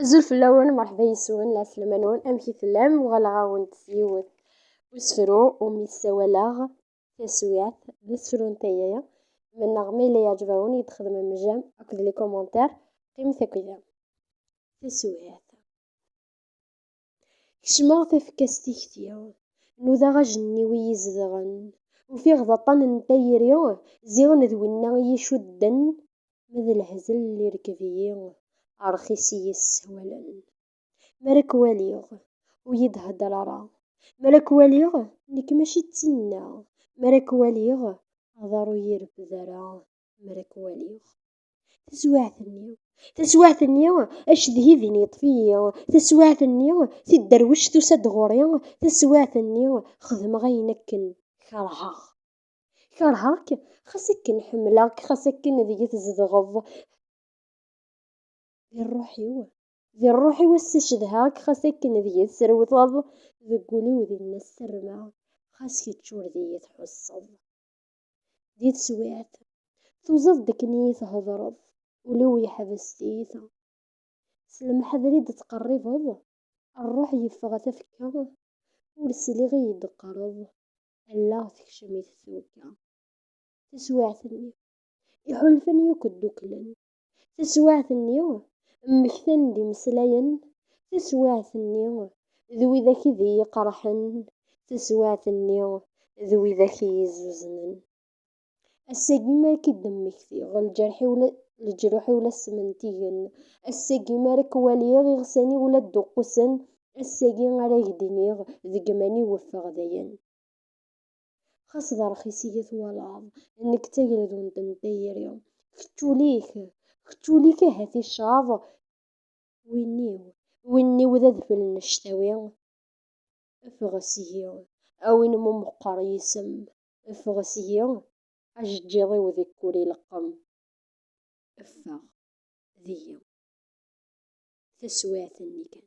Azul fell-awen, merḥba yes-wen, la tlem-nwen, amek i tellam? Uɣaleɣ-awen-d s yiwet usefru umi ssawaleɣ taswiɛt d usefru n tayri. Mennaɣ ma yella yeɛjeb-awen, i d-xedmem jam akked likomantar, qqimet akked-i. Taswiɛt. Kecmeɣ tafekka s tikti, nudaɣ ajenniw i yi-izedɣen, ufiɣ d aṭṭan n tayri ziɣen d winna i yi-icudden, ma d lehzel irekb-iyi, rxis i yi-ssawalen. Mi ara k-waliɣ, ur yi-d-hedder ara, mi ara k-waliɣ, nekk mačči d tinna, mi ara k-waliɣ, aḍar ur yi-ireffed ara, mi ara k-waliɣ. taswiɛt-nni taswiɛt-nni acedhi din yeṭṭef-iyi taswiɛt-nni tidderwect tusa-d ɣur-i taswiɛt-nni xedmeɣ ayen akken kerheɣ kerheɣ-k xas akken ḥemmleɣ-k xas akken deg-i tzedɣeḍ di rruḥ-iw di rruḥ-iw ass-a cedhaɣ-k xas akken deg-i tesrewteḍ deg wul-iw dinna ssarmeɣ xas kečč ur d iyi-tḥusseḍ di teswiɛt, tuẓeḍ-d akken i yi-thedreḍ, ul-iw yeḥbes tiyita. S lemḥadar i d-tettqerribeḍ, rruḥ yeffeɣ a tafekka, ur sliɣ i yi-d-teqqareḍ, allaɣ tekcem-it twekka. Taswiɛt-nni, iḥulfan yakk ddukklen, Taswiɛt-nni, mmektan-d imeslayen, taswiɛt-nni, d widak i d iyi-iqerḥen, taswiɛt-nni, d widak i iyi-izzuznen. Ass-agi mi ara k-id-mmektiɣ, leǧruḥ-iw la ssementigen, ass-agi mi ara k-waliɣ, iɣsan-iw la d-uqqusen, ass-agi ara ak-d-iniɣ, deg iman-iw ffeɣ dayen. Xas d rxis i yi-twalaḍ, nekk d tagredunt n tayri. Kečč ul-ik, kečč ul-ik ahat icaḍ win-iw, win-iw d adfel n ctawi. Ffeɣ seg-i, a win mu meqqer yisem, ffeɣ seg-i, ajeǧǧiḍ-iw deg wul ileqqem. Ffeɣ deg-i. Taswiɛt-nni kan.